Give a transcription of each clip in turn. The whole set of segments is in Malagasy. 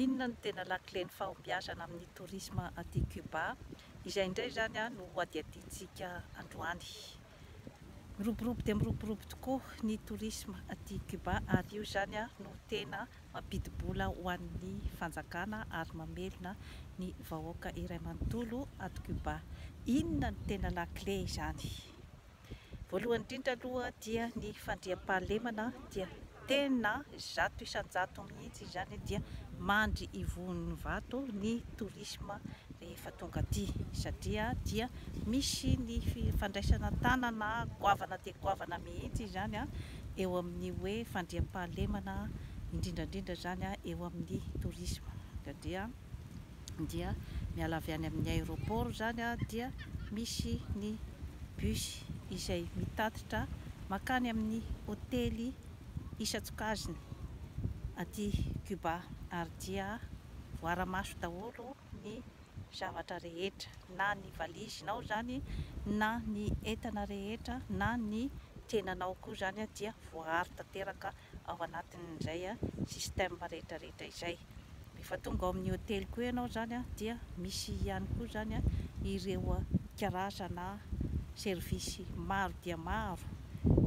Inona no tena lakilen'ny fahombiazana amin'ny tourisme aty Cuba? Izay indray izany no hohadihadiantsika androany. Miroborobo dia miroborobo tokoa ny tourisme aty Cuba ary io izany no tena mampidi-bola ho an'ny fanjakana ary mamelona ny vahoaka iray manontolo ato Cuba. Inona no tena lakile izany? Voalohany indrindra aloha dia ny fandriampahalemana dia tena zato isan-jato mihitsy izany dia mandry ivon'ny vato ny tourisme rehefa tonga aty satria dia misy ny fandraisana tanana goavana dia goavana mihitsy izany eo amin'ny hoe fandriampahalemana indrindra indrindra izany eo amin'ny tourisme satria dia miala avy any amin'ny aéroport izany dia misy ny bus izay mitatitra makany amin'ny hotely isan-tsokajiny aty Cuba ary dia voara-maso daholo ny zavatra rehetra na ny valizinao izany na ny entana rehetra na ny tenanao koa izany dia voaaro tanteraka ao anatin'izay système rehetra rehetra izay. Rehefa tonga ao amin'ny hoteliko eo ianao izany dia misy ihany koa izany ireo karazana service maro dia maro,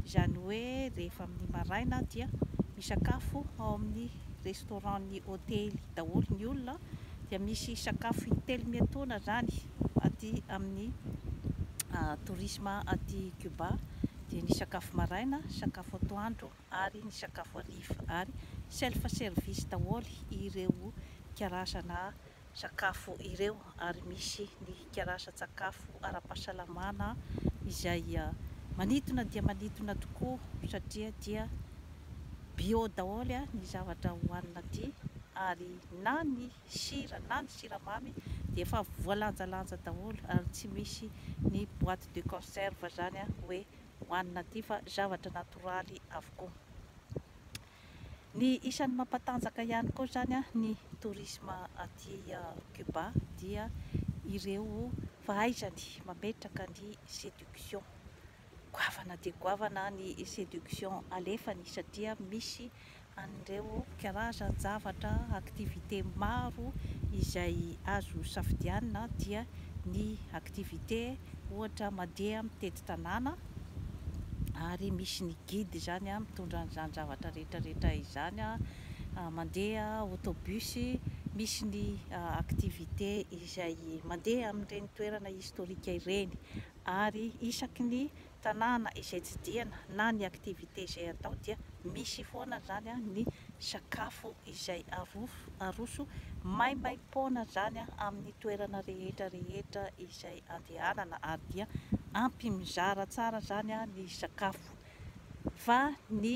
izany hoe rehefa amin'ny maraina dia misakafo ao amin'ny restaurant ny hotely daholo ny olona dia misy sakafo in-telo miatoana izany aty amin'ny tourisme aty Cuba dia ny sakafo maraina, sakafo atoandro. ary ny sakafo hariva ary self service daholo ireo karazana sakafo ireo ary misy ny karazan-tsakafo ara-pahasalamana izay manintona dia manintona tokoa satria dia bio daholo ny zavatra hohanina aty ary na ny sira na ny siramamy dia efa voalanjalanja daholo ary tsy misy ny boite de conserve izany hoe ho an'ny natif fa zavatra natoraly avokoa. Ny isan'ny mampatanjaka ihany koa izany ny tourisme aty Cuba dia ireo fahaizany mametraka ny séduction. Goavana dia goavana ny séduction alefany satria misy an'ireo karazan-javatra, activité, maro izay azo safidianina dia ny activité ohatra mandeha mitety tanàna ary misy ny guide izany mitondra an'izany zavatra rehetra rehetra izany, mandeha autobus, misy ny activité izay mandeha amin'ireny toerana historique ireny ary isaky ny tanàna izay tsidihana na ny activité izay atao dia misy foana izany ny sakafo izay aroso maimaim-poana izany amin'ny toerana rehetra rehetra izay andehanana ary dia ampy mizara tsara izany ny sakafo fa ny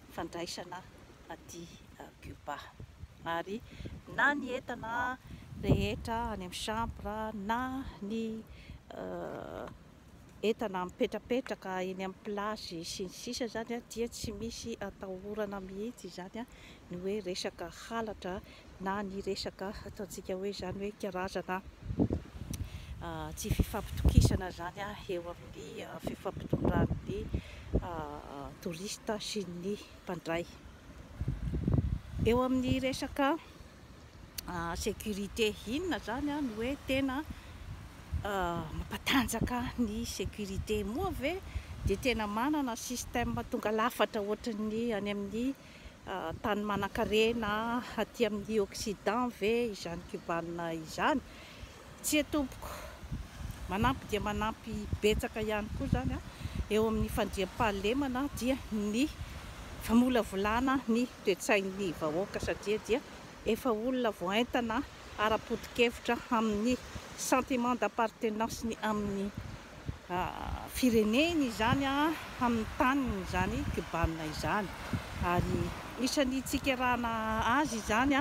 fandraisana aty Cuba. Ary na ny entana rehetra any amin'ny chambre na ny entana mipetrapetraka eny amin'ny plage sy ny sisa izany dia tsy misy atahorana mihitsy izany ny hoe resaka halatra na ny resaka ataontsika hoe izany hoe karazana tsy fifampitokisana izany eo amin'ny fifampitondran'ny touriste sy ny mpandray. Eo amin'ny resaka sécurité inona izany no hoe tena mampatanjaka ny sécurité? Moa ve dia tena manana système tonga lafatra ohatran'ny any amin'ny tany manankarena aty amin'ny occident ve izany Cubana izany? Tsia tompoko, manampy dia manampy betsaka ihany koa izany eo amin'ny fandriampahalemana dia ny famolavolana ny toe-tsain'ny vahoaka satria dia efa olona voaentana ara-poto-kevitra amin'ny sentiment d'appartenance-ny amin'ny fireneny izany amin'ny taniny izany kbanina izany ary isan'ny tsikerana azy izany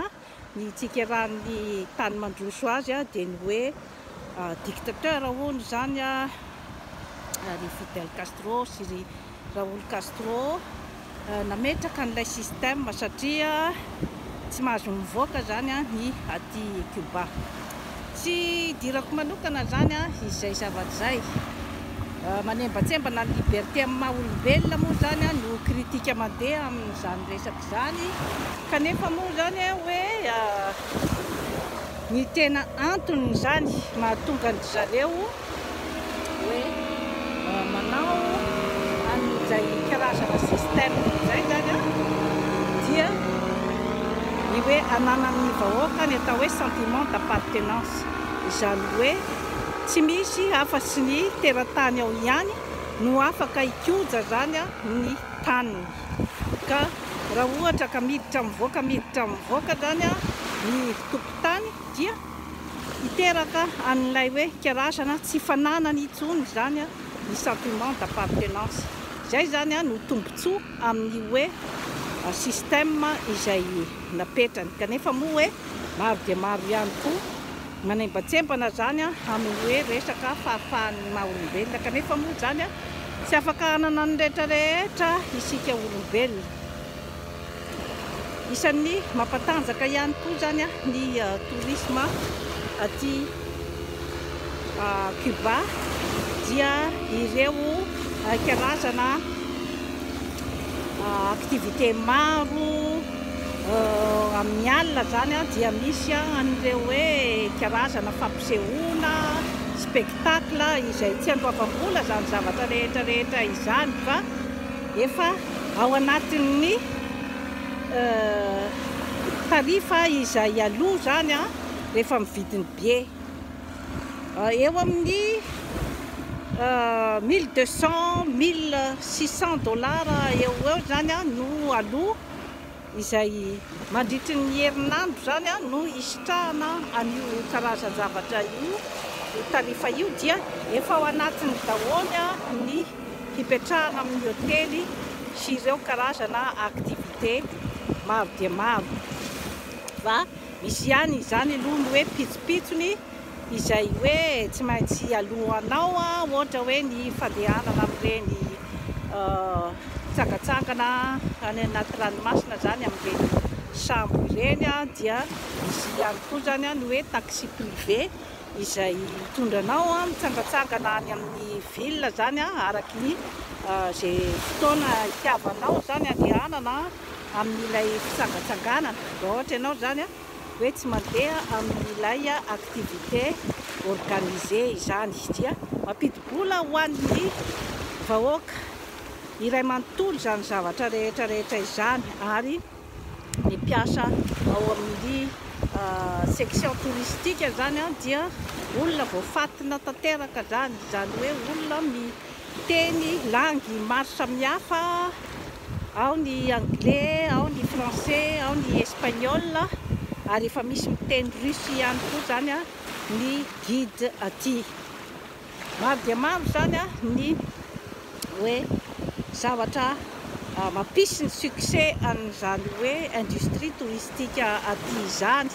ny tsikerahan'ny tany mandroso azy dia ny hoe dictateur hono izany ry Fidel Castro sy ry Raúl Castro nametraka an'ilay système satria tsy mahazo mivoaka izany ny aty Cuba. Tsy hidirako manokana izany izay zavatra izay. Manembatsembana ny liberté amin'ny maha olombelona moa izany no critique mandeha amin'izany resaka izany kanefa moa izany hoe Ny tena anton'izany mahatonga an-dry zareo hoe manao an'izay karazana système izay izany an, dia ny hoe ananan'ny vahoaka ny atao hoe sentiment d'appartenance. Izany hoe tsy misy afa tsy ny teratany ao ihany no afaka hikoja izany ny taniny. Ka raha ohatra ka miditra mivoaka miditra mivoaka izany ny. tompon-tany dia hiteraka an'ilay hoe karazana tsy fananany intsony izany ny sentiment d'appartenance. Izay izany no tombontsoa amin'ny hoe système izay napetrany. Kanefa moa hoe maro dia maro ihany koa manembantsembana izany amin'ny hoe resaka fahafahan'ny maha olombelona. Kanefa moa izany tsy afaka hanana ny rehetra rehetra isika olombelona. Isan'ny mampatanjaka ihany koa izany ny tourisme aty Cuba dia ireo karazana activité maro amin'ny alina izany dia misy an'ireo hoe karazana fampisehoana, spectacle izay tsy andoavam-bola izany zavatra rehetra rehetra izany fa Efa ao anatin'ny tarifa izay aloa izany rehefa mividy ny billet. Eo amin'ny mille deux cent, mille six cent dollars eo ho eo izany no aloa. izay mandritry ny herinandro izany no hisitrahana an'io karazan-javatra io, io tarifa io dia efa ao anatiny daholo ny hipetrahana amin'ny hotely sy ireo karazana activité maro dia maro fa misy ihany izany aloha ny hoe pitsopitsony. izay hoe tsy maintsy aloanao ohatra hoe ny fandehanana amin'ireny tsangatsangana any anaty ranomasina zany amin'ireny sambo ireny dia misy ihany koa zany ny hoe taxi privé izay mitondra anao mitsangatsangana any amin'ny ville zany araky ny ze fotoana itiavanao zany andehanana amin'ilay fitsangatsanganana raha ohatra ianao zany hoe tsy mandeha amin'ilay activité organisée izany dia mampidi-bola ho an'ny vahoaka iray manontolo izany zavatra rehetra rehetra izany ary ny mpiasa ao amin'ny section touristique izany dia olona voafatina tanteraka izany, izany hoe olona mi Teny, langues, maro samihafa, ao ny anglais, ao ny français, ao ny espagnol, ary efa misy miteny russe ihany koa izany ny guide aty. Maro dia maro izany ny hoe zavatra mampisy ny succès an'izany hoe industrie touristique aty izany.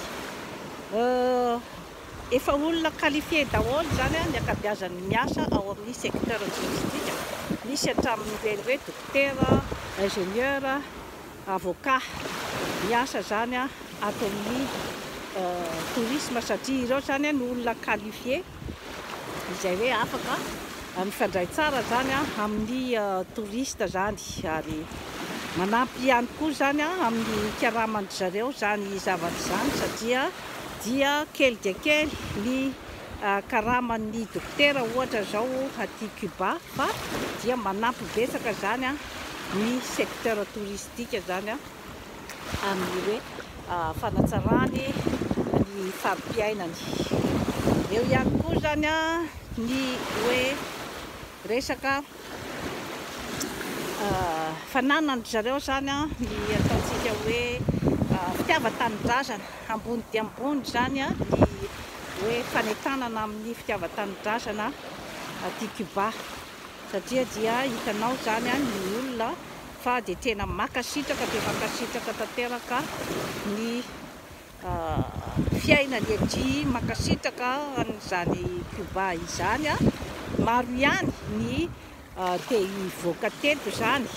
Efa olona qualifié daholo izany ny ankabiazan'ny miasa ao amin'ny secteur touristique, misy hatramin'ireny hoe dokotera, ingénieur, avocat miasa izany ato amin'ny tourisme satria ireo izany no olona qualifié izay hoe afaka mifandray tsara izany amin'ny touriste izany ary manampy ihany koa izany amin'ny hikaramandry zareo izany zavatra izany satria dia kely dia kely ny karaman'ny dokotera ohatra izao aty Cuba fa dia manampy betsaka izany ny secteur touristique izany amin'ny hoe fanatsarany ny fari-piainany. Eo ihany koa izany ny hoe resaka. Fananandry zareo izany an, ny ataontsika hoe fitiavan-tanindrazana, ambony dia ambony izany an, ny hoe fanentanana amin'ny fitiavan-tanindrazana aty Cuba, satria dia hitanao izany an, ny olona fa dia tena makasitraka dia makasitraka tanteraka ny. fiainany ety mankasitraka an'izany Cuba izany. Maro ihany ny te hivoaka teto izany,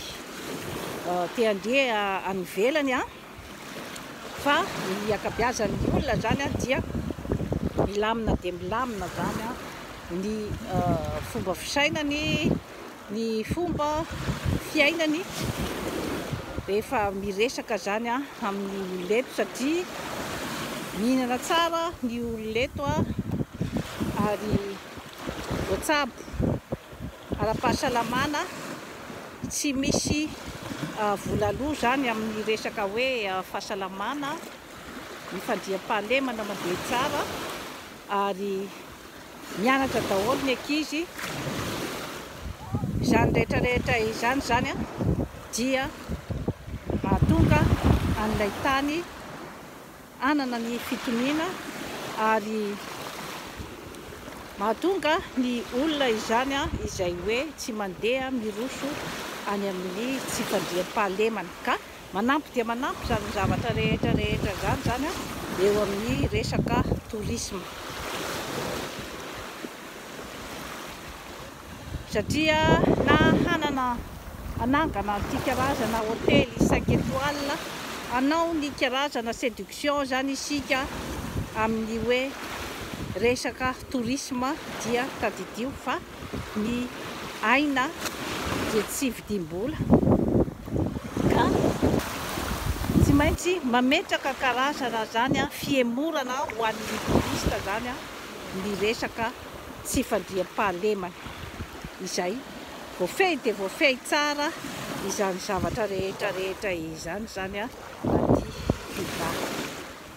te handeha any ivelany, fa ny ankabeazan'ny olona izany dia milamina dia milamina izany ny fomba fisainany, ny fomba fiainany rehefa miresaka izany amin'ny olona eto satria mihinana tsara ny olona eto ary voatsabo ara-pahasalamana, tsy misy vola lo izany amin'ny resaka hoe fahasalamana, ny fandriampahalemana mandeha tsara ary. Mianatra daholo ny ankizy. Izany rehetra rehetra izany izany dia mahatonga an'ilay tany hanana ny fitoniana ary mahatonga ny olona izany izay hoe tsy mandeha miroso any amin'ny tsy fandriampahalemana ka Manampy dia manampy izany zavatra rehetra rehetra izany izany an, eo amin'ny resaka tourisme. Satria na hanana, hanangana an'ity karazana hotely cinq étoiles, hanao ny karazana séduction izany isika amin'ny hoe resaka tourisme dia tadidio fa. Ny aina dia tsy vidim-bola ka tsy maintsy mametraka karazana izany fihemorana ho an'ny touriste izany ny resaka tsy fandriampahalemana izay voafehy dia voafehy tsara izany zavatra rehetra rehetra izany izany aty Cuba.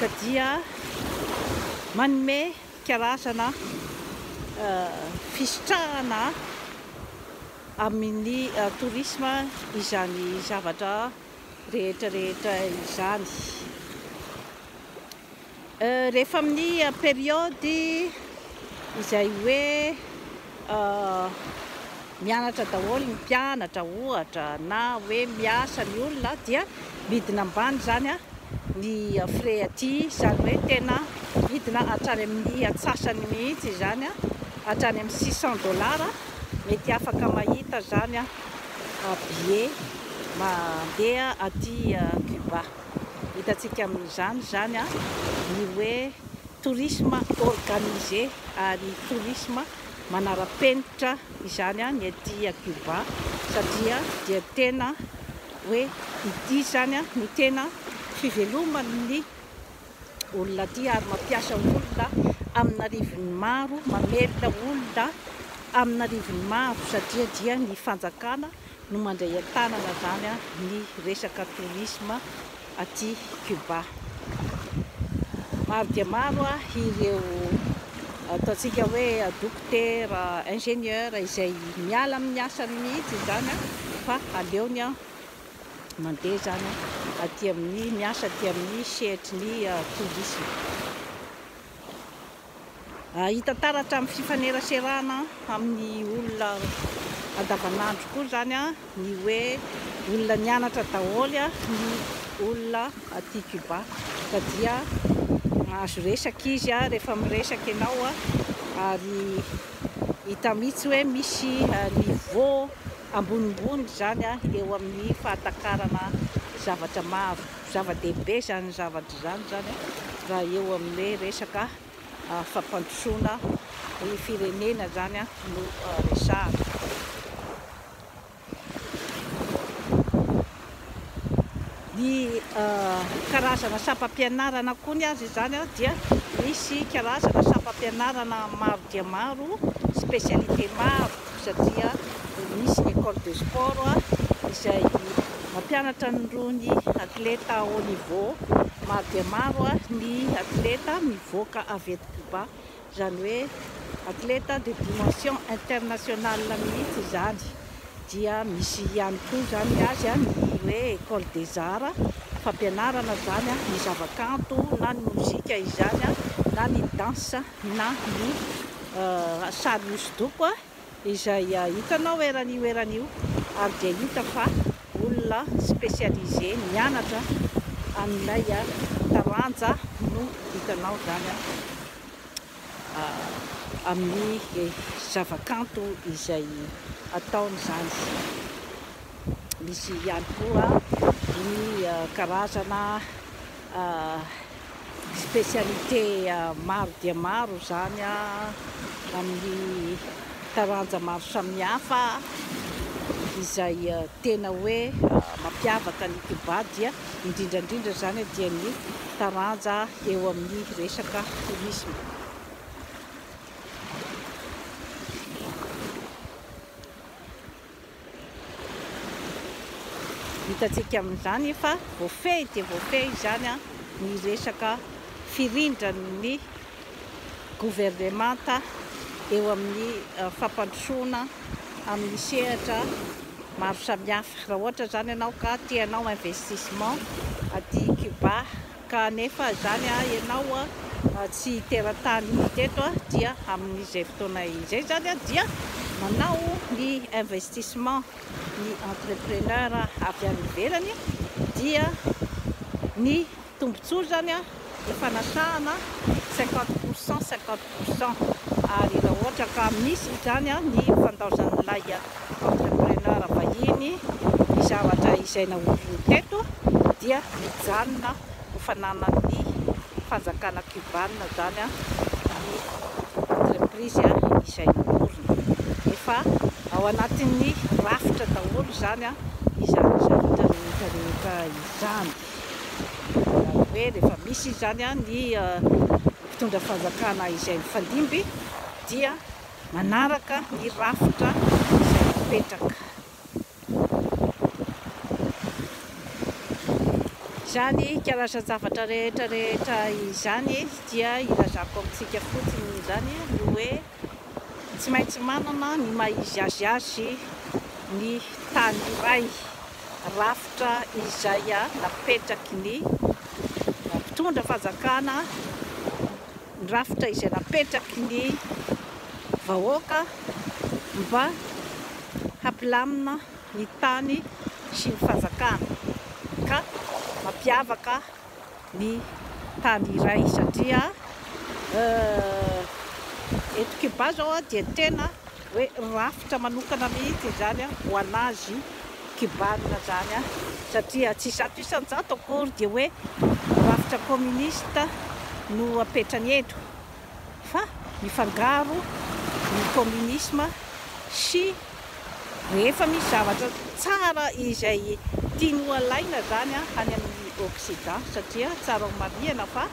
ka dia manome karazana fisitrahana amin'ny tourisme izany zavatra rehetra rehetra izany. Rehefa amin'ny période izay hoe Mianatra daholo ny mpianatra ohatra na hoe miasa ny olona dia midina ambany izany ny frais aty, izany hoe tena midina hatrany amin'ny atsasany mihitsy izany, hatrany amin'ny six cent dollars, mety afaka mahita izany billet mandeha aty Cuba, hitantsika amin'izany izany ny hoe Tourisme organisé ary tourisme manara-penitra izany ny aty Cuba satria dia tena hoe ity izany no tena fiveloman'ny olona aty ary mampiasa olona amin'arivony maro, mamelona olona amin'arivony maro satria dia ny fanjakana no mandray an-tanana izany ny resaka tourisme aty Cuba. Maro dia maro ireo ataontsika hoe dokotera, ingénieur izay miala amin'ny asany mihitsy izany fa aleony mandeha izany aty amin'ny miasa aty amin'ny sehatry ny tourisme. Hita taratra amin'ny fifaneraserana amin'ny olona andavanandro koa izany ny hoe olona nianatra daholo ny olona aty Cuba fa dia mahazo resaka izy rehefa miresaka ianao ary hita mihitsy hoe misy niveau ambonimbony izany eo amin'ny fahatakarana zavatra maro. Zava-dehibe izany zavatra izany izany a, raha eo amin'ny hoe resaka fampandrosoana ny firenena izany a no resahana. Ny karazana sampam-pianarana koa ny azy izany a dia misy karazana sampam-pianarana maro dia maro, spécialité maro. satria misy ny ecole de sport izay mampianatra an'irony athlète haut niveau maro dia maro ny athlète mivoaka avy eto Cuba, izany hoe athlète de dimension internationale mihitsy izany, dia misy ihany koa izany ny azy ny hoe ecole des arts, fampianarana izany ny zava-kanto na ny mozika izany na ny dansa. na ny sary hosodoko izay hitanao eran'io eran'io ary dia hita fa olona spécialisé mianatra amin'ilay taranja no hitanao izany amin'ny zavakanto izay ataony izany. Misy ihany koa ny karazana Spécialité maro dia maro izany amin'ny taranja maro samihafa, izay tena hoe mampiavaka an'i Kiobà dia indrindra indrindra izany dia ny taranja eo amin'ny resaka tourisme. Hitantsika amin'izany fa voafehy dia voafehy izany ny resaka firindran'ny governemanta eo amin'ny fampandrosoana amin'ny sehatra maro samihafa. Raha ohatra izany ianao ka te hanao investissement aty Cuba, Ka anefa izany ianao tsy teratany teto dia amin'izay fotoana izay izany dia manao ny investissement ny entrepreneur avy any ivelany dia ny tombotsoa izany ny fanasahana cinquante pour cent cinquante pour cent ary raha ohatra ka misy izany ny fandaozan'ilay Entrepreneur vahiny, ny zavatra izay naoriny teto dia mijanona ho fananan'ny fanjakana Cubanina izany ny entreprise izay naoriny. Efa ao anatin'ny rafitra daholo izany izany zavatra rehetra rehetra izany. Izany hoe rehefa misy izany ny mpitondra fanjakana izay mifandimby dia. Manaraka ny rafitra izay napetraka. Izany karazan-javatra rehetra rehetra izany dia ilazako amintsika fotsiny izany ny hoe tsy maintsy manana ny maha izy azy azy ny tany iray, rafitra izay napetraky ny mpitondra fanjakana. ny rafitra izay napetraky ny vahoaka mba hampilamina ny tany sy ny fanjakana ka mampiavaka ny tany iray satria eto Cuba zao dia tena Hoe rafitra manokana mihitsy izany ho an'azy kibanina izany satria tsy zato isan-jato akory dia hoe rafitra kaominista no apetrany eto fa mifangaro ny kaominisma sy rehefa misy zavatra tsara izay tiany ho alaina izany any amin'ny oksidan satria tsara ho marihana fa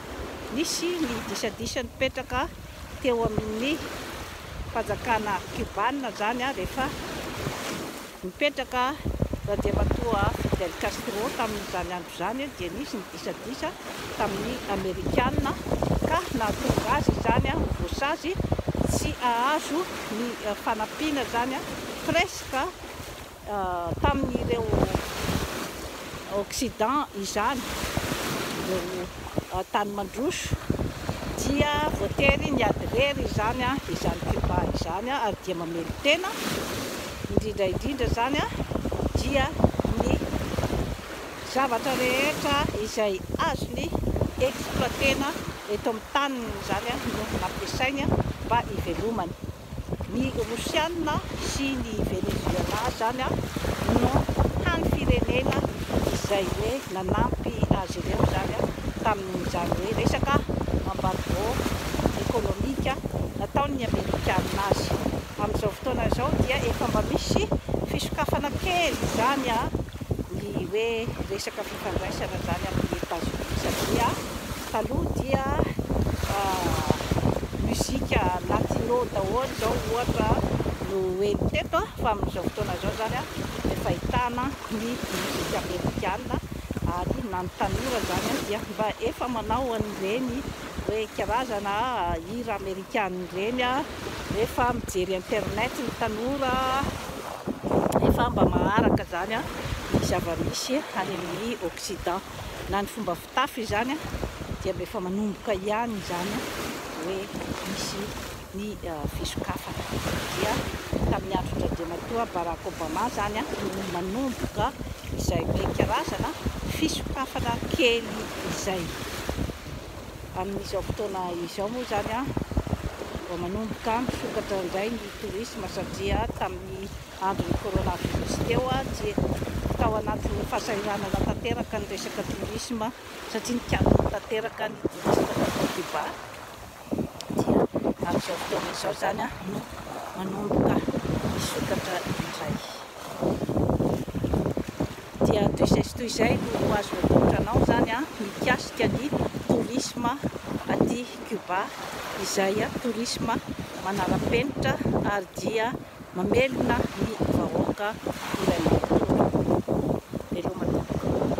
nisy ny disadisa nipetraka teo amin'ny fanjakana Kiobana izany rehefa nipetraka Randriamatoa Fidel Castro tamin'izany andro izany dia nisy ny disadisa tamin'ny Amerikana ka nahatonga azy izany ho voasazy tsy hahazo ny fanampiana izany presque tamin'ireo Occident izany, ireo tany mandroso, dia voatery niady irery izany izany Cuba izany ary dia mamelon-tena, indrindra indrindra izany dia ny zavatra rehetra izay azony exploiter-na eto amin'ny taniny izany no ampiasainy mba hivelomany. Ny Rosiana sy ny Venezuela izany no hany firenena izay hoe nanampy azy ireo izany tamin'izany hoe resaka embargo ekonomika nataon'ny Amerikana azy. Amin'izao fotoana izao dia efa mba misy fisokafana kely izany ny hoe resaka fifandraisana izany amin'i Etazonia satria. Taloha dia mozika latino daholo izao ohatra no heno teto fa amin'izao fotoana izao izany efa ahitana ny mozika amerikana ary na ny tanora izany dia mba efa manao an'ireny hoe karazana hira amerikana ireny rehefa mijery internet ny tanora efa mba maharaka izany ny zava-misy any amin'ny occident na ny fomba tafo izany dia mba efa manomboka ihany izany hoe misy ny fisokafana. Dia tamin'ny andron-dRandriamatoa Barack Obama izany no manomboka izay hoe karazana fisokafana kely izay. Amin'izao fotoana izao moa izany vao manomboka misokatra indray ny tourisme satria tamin'ny andro ny coronavirus teo dia tao anatin'ny fahasahiranana tanteraka ny resaka tourisme satria nikatona tanteraka ny tourisme tao Cuba dia amin'izao fotoana izao izany no manomboka misokatra indray dia toy izay sy toy izay no azo atolotra anao izany a mikasika ny tourisme aty Cuba izay tourisme manara-penitra ary dia Mamelona ny vahoaka ilay matoa ireo matomboka.